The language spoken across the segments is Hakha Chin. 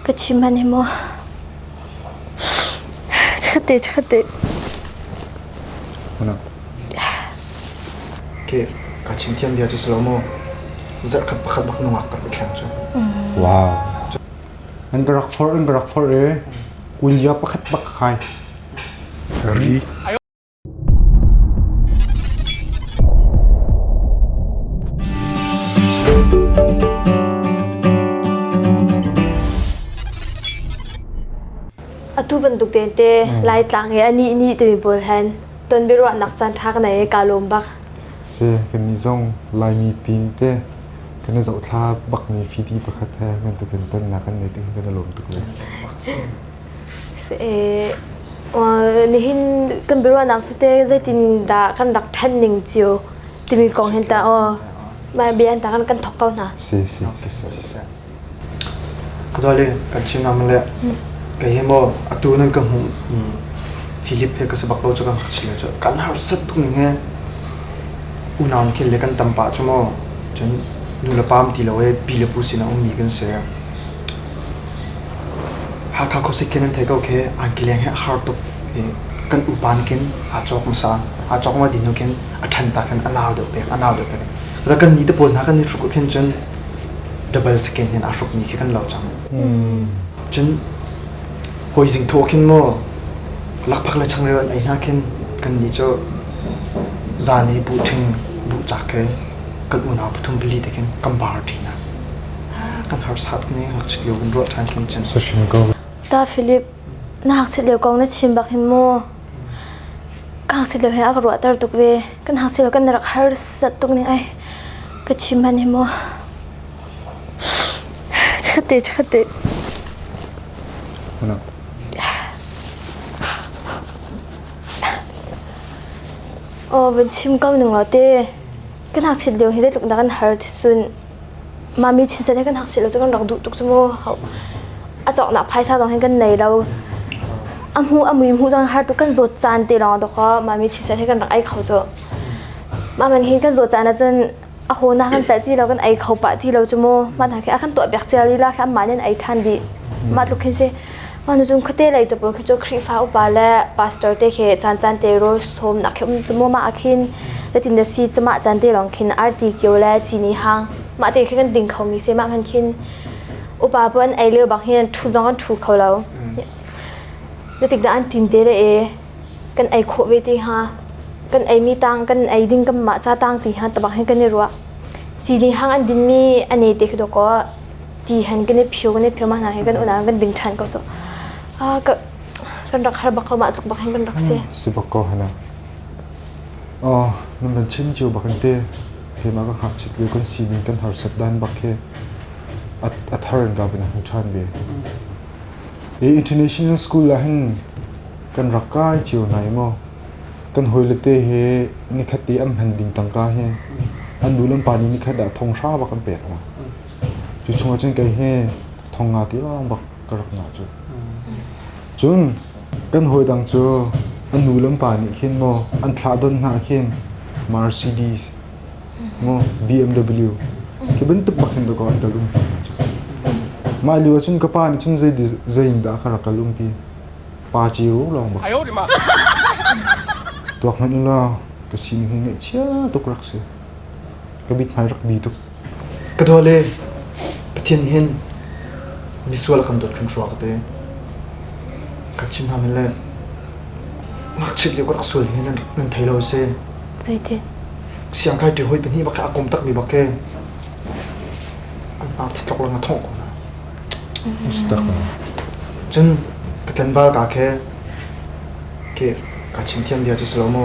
Ka chim hmanh hi maw. Chikkhat te, chikkhat te. Mona. Ke, ka chim thiam bia cu si lo maw. Zarh khat pakhat bak nungak kan i thleng cu. Wow. An barak for, an barak for e. Unia pakhat bak khai. Ri. Atu bantuk tehte Laitlang i anih nih timi pawl hen ton biaruahnak caan ṭha ka nei i kaa lawm bak. Si, kannih zong Laimi pin te kan i zohthla bakmi fidi pakhat he bantukin tonnak kan nei tiin kan i lawm tuk ve. nihin kan biaruahnak cu te zeitindah kan rak ṭhen ning cio timi kong hin ta aw mah bia hin ta kan kan thok ko hna. Si si si si. Darling kan chim nam le kei hi mo atu nan ka hmuh mi Philip he ka sabak lo chu kan khachil le chu kan har sat tung ning he unam khil le kan tam pa chu mo chen nu le pam ti lo e pi le pu sin a um mi kan se Hakha khuasik khi nan thei ko khi an kileng hi a har tuk i kan upa nakin aa cawk hmasa. Aa cawk ngawt dih hnu khin a ṭhen tak khin a nau deuh pek, a nau deuh pek. Ora kan ni te pawl hna kan ni hruk khin cun double skin in aa hrukmi khi kan lo cang. Cun hawi zing thawh khin maw lakphak le changreu an ei hna khin kan ni cu zan i buh ṭhing buh cak ke kan unau pathum pali te khin kan bar ṭi hna. Ta Philip na hngakchit leo kong na chim bak hin maw ka hngakchit leo he a ka ruahter tuk ve kan hngakchit leo kan rak harsat tuk ning ai ka chim han hi maw chikhate chikhate Aw, ban chim kau ning lo te. Kan hak chit leo hi zeitluk da kan har thi sun. Mami chisen he kan hak si lo cu kan rak duh tuk cu maw hau. A cawknak phaisa zong hin kan nei lo. A hmu a mui hmu zong har tuk kan zawt caan te lawng dawkhaw mami chisen he kan rak ei kho cu. Maman hin kan zawt caan ahcun a ho na kan caih ti lo kan ei kho pah ti lo cu mu. Mah hna khi a kan tuah piak cia lila hlam man in ei ṭhan dih. Mah tluk hin si. Anuzum khate lei te pun khicho Khrihfa upa le pastor te khi chan chan te ro som nak khi um chumo ma akhin latin da si chuma chan te long khin arti kyo le chini hang ma te khi kan ding kho mi se ma kan khin upa pun ei leo bang hin thu zong an thu kho lo latik da an tin te le e kan ei kho ve te ha kan ei mi tang kan ei ding kam ma cha tang ti ha tabak hin kan i ruwa chini hang an din mi ane te khi do ko ti hen kan i phio kan i phio ma hna hi kan unau kan ding ṭhan ko cu a ka kan rak har bak ko mah tluk bak hin kan rak si si bak ko hana oh nan van chim cio bak in te he ma ka hak chit lio kan si ning kan har sat dan bak he a thar in ka bin a hung ṭhan ve e international school la hin kan rak kai cio nai mo kan hoi le te he nikhat te am han ding tangka he an nu lam pa ni nikhat da thong sha bak an pek la Cu chungah cun kei he thong nga tilang bak ka rak ngah cu. Cun kan hawi dang cu an nu le pa nih khin maw an thlahdon hna khin Mercedes maw BMW khi bantuk bak hin dakaw an kal umpi hna cu. Mah lio ah cun ka pa nih cun zei di- zei in dah a ka rak kal umpi pa ciu lawng bak tuak hmanh ulaw ka sining hi ngaihchia tuk rak si. Ka mit hna rak bi tuk. Ka dawt le Pathian nih hin misual a kan dawt hrimhrum ka te. Ka chim hna men le ngakchiat lio ka rak sual hi nan nan thei lo si. Zeiti? Siang kai ṭi hoi pahnih bak he a kom takmi bak he an par thitlok lang a thawh ko na. Stak na. Cun ka tlan bal ka ke ke ka chim thiam bia cu si lo mu.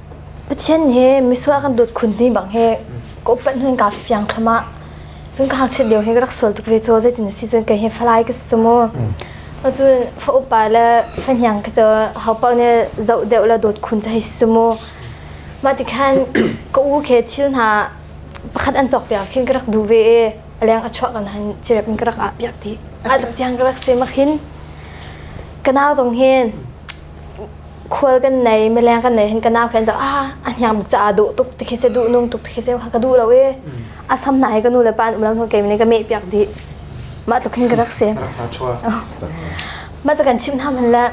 Pathian hi misual kan dawt khun ni bang he ka upat nun ka fiang thlama cun ka hangchiat lio he ka rak sual tuk ve cu zeitin a si cun kei hi falai ka si cu mu cun fa upa le fa hniang ka cu ho pa ne zoh deuh le dawt khun ca hi si mu mah ti khan ka u ke thil hna pakhat an cawk piak khin ka rak du ve e a leng a chuah kan han cirep in ka rak ah piak ti a tiang ka rak se makhin ka nau zong hin khual kan nei mileng kan nei hin ka nau khin ah a hniam caah duh tuk ti khi se duh nung tuk ti khi se kha ka duh lo i a sam nai ka nu le pa an um lo hnu kei mene ka meh piak dih mah tluk hin ka rak si mah ca kan chim hna man le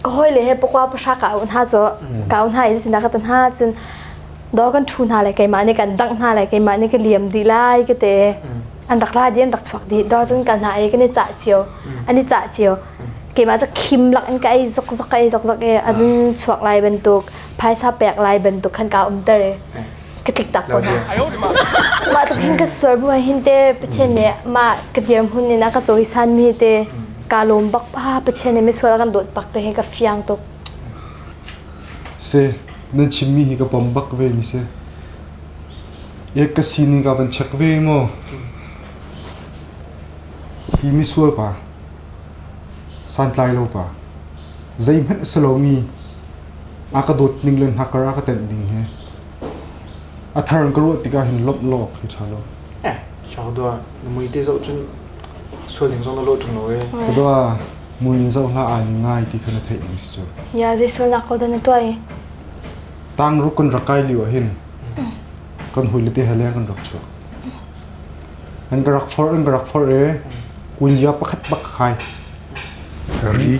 ka hoi le he pokwa pahra ka au hna so ka au hna i zinda ka ta hna cun dor kan thu hna le keimah nih kan dangh hna le keimah nih ka liam dih lai ka te an rak ra di an rak chuak di dor cun kan hna i kan i cah cio an i cah cio keimah cu khim lak in ka ei zokzok ei zokzok i a zun chuak lai bantuk phaisa pek lai bantuk khan ka umter i ka tlik tak ko hna mah tluk hin ka sur bu hin te pathian nih mah ka dir hun in a ka cawisan mi te ka lawm bak pa pathian nih misual kan dawt bak te hi ka fiang tuk se nan chimmi hi ka pom bak ve ni se ek ka sining ka van check ve ngo Hi misual pa, santlailo pa, zeihmanh a si lomi a ka dawt ning le hna kar a ka tenh ning hi a thar in ka ruah tikah hin lawmh law ka ṭha lo. Hlak dua, na mui te zoh cun sual ning zong na lawh ṭung lo ee. Ka dua, mui in zoh hlah ai ngai ti kha na theih ning si cu. Ia, zei sualnak ko dah na tuah i? Tang ruk kan rak kai lio ah hin kan hawile te he leng kan rak chuak. Nan ka rak forh, nan ka rak forh i kunzia pakhat bak ka khai. Ri.